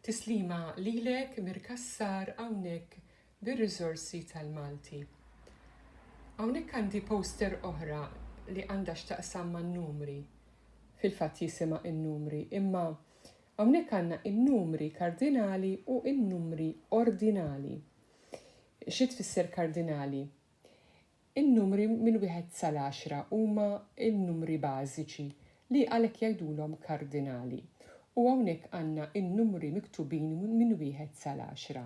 Tislima lilek Mir Cassar hawnhekk bir-riżorsi tal-Malti. Hawnhekk għandi poster oħra li għandha x'taqsam man-numri. Fil-fatt jisimha in-numri, imma hawnhekk għandna in-numri kardinali u in-numri ordinali. Xi tfisser kardinali? In-numri minn wieħed sal-għaxra huma n-numri bażiċi li għalhekk jgħidulhom kardinali, u hawnhekk għandna n-numri miktubin minn wieħed sal-għaxra.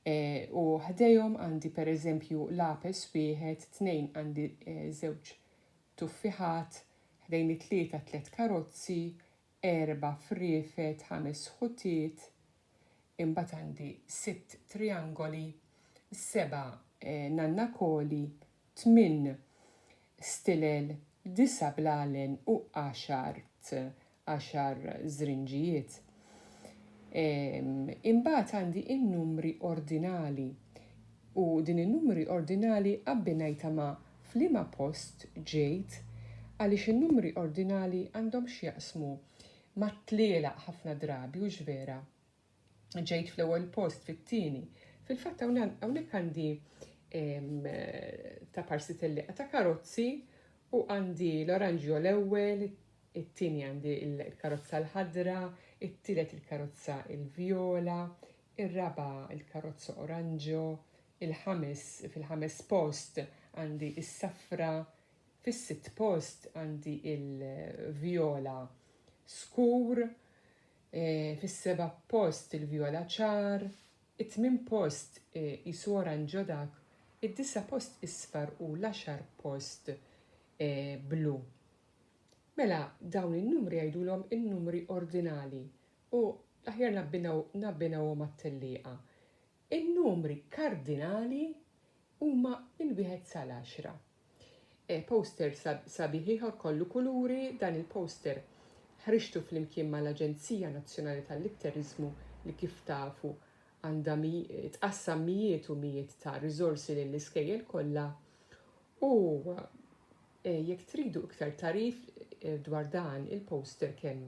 E, u ħdejhom għandi pereżempju lapes wieħed, tnejn għandi e, żewġ tuffiħat, ħdejn it-tlieta tliet karozzi, erba' friefet, ħames ħutiet, imbagħad għandi sitt triangoli, seba' nannakoli, tmien stilel, disa' blalen u għaxar għaxar żrinġijiet. Imbagħad għandi n-numri ordinali u din in-numri ordinali abbinajtha ma' F'liema post ġejt? Għaliex in-numri ordinali għandhom x'jaqsmu mat-tlielaq ħafna drabi, hux vera? Ġejt fl-ewwel post, fit-tieni. Fil-fatt hawnhekk għandi ta' parsi tellieqa ta' karozzi u għandi l-oranġjo l-ewwel, it-tieni għandi l-karozza l-ħadra, it-tielet il-karozza l-vjola, ir-raba' il-karozza oranġjo, il-ħames fil-ħames post għandi is-safra, fis-sitt post għandi il-vjola skur, e, fis-seba' post il-vjola ċar, it-tmien post e, isu oranġo dak, id-disa' post isfar u l-għaxar post e, blu. Mela dawn in-numri jgħidulhom in-numri ordinali u l-aħjar nabbinaw nabbinawhom mat-tellieqa. In-numri kardinali huma minn wieħed sal-għaxra. Poster sabiħ ieħor kollu kuluri, dan il-poster ħriġtu flimkien mal-Aġenzija Nazzjonali tal-Litteriżmu li kif tafu għandha tqassam mijiet u mijiet ta' riżorsi lill-iskejjel kollha u eh, jekk tridu iktar tarif eh, dwar dan il-poster kemm